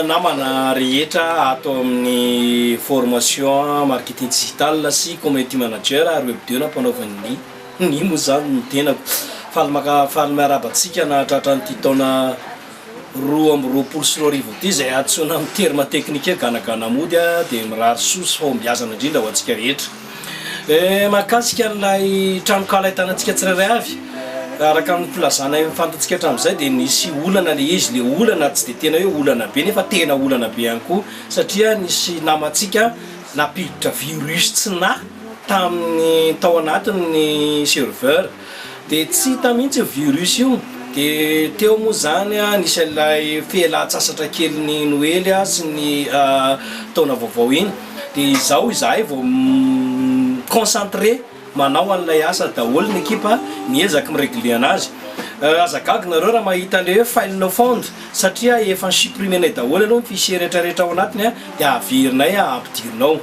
Namana rehetra ato amin'ny formation marketing digital sy community manager ary web deux nampanaovan'ny ny moa izany ny tenako. Faly maka faly miarahaba antsika nahatratra an'ity taona roa amby roapolo sy roa arivo ity izay antsoina amin'ny terme teknika hoe ganagana mody dia mirary soa sy fahombiazana indrindra ho antsika rehetra. Mahakasika an'ilay tranonkala ahitana antsika tsirairay avy, araka ny filazana efa fantatsika hatramin'izay dia nisy olana ilay izy, ilay olana tsy dia tena hoe olana be nefa tena olana be ihany koa satria nisy namantsika nampiditra virus tsy nahy tamin'ny tao anatiny ny serveur. De tsy hita mihitsy io virus io. De teo moa zany nisy an'ilay fialan-tsasatra kelin'ny noely sy ny taona vaovao iny. De izao izahay vao mi-concentrer manao an'ilay asa daholo ny ekipa miezaka mi-regler anazy. Aza gaga nareo raha mahita le hoe file no found satria efa supprimer-nay daholo aloha ny fichier retraretra ao anatiny dia averinay ampidirina ao.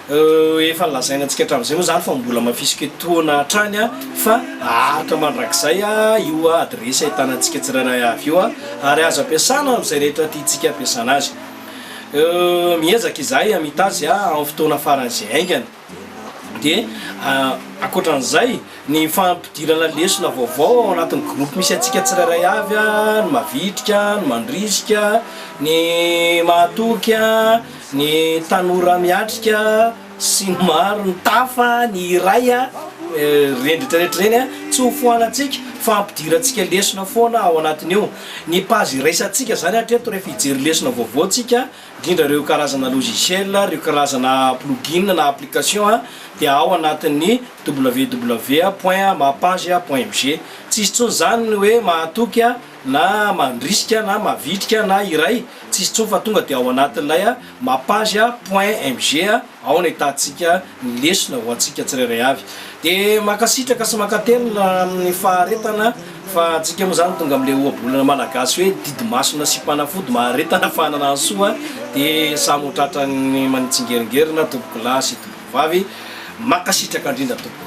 Efa nolazaina antsika hatramin'izay moa izany fa mbola mafisiko etoana hatrany fa haharitra mandrakizay io adiresy ahitana antsika tsirairay avy io ary azo ampiasana amin'izay rehetra tiantsika hampiasana azy. Miezaka izahay hamita azy amin'ny fotoana faran'izay haingana. Dia ankoatra an'izay, ny fampidirana lesona vaovao ao anatin'ny groupe misy antsika tsirairay avy, ny mavitrika, ny mandrisika, ny mahatoky, Ny tanora miatrika sy maro ny tafa ny iray a! ireny rehetra rehetra ireny a! tsy ho foanantsika fa ampidirantsika lesona foana ao anatin'io. Ny page iraisantsika izany hatreto rehefa hijery lesona vaovao tsika, indrindra ireo karazana logiciel, ireo karazana plugin na application a! dia ao anatin'ny www point mapage point mg. Tsy hisy intsony izany ny hoe mahatoky a! na mandrisika na mavitrika na iray tsisy tso fa tonga dia ao anatin'ilay mapage point mg ao ny ahitantsika ny lesona ho antsika tsirairay avy dia mankasitraka sy mankatelina amin'ny faharetana fa antsika moa izany tonga amin'ilay ohabolana malagasy hoe didy masina sy mpanafody maharetana fanana ny soa dia samy ho tratran'ny manitsingeringerina tompokolahy sy tompokovavy mankasitraka indrindra tompoko.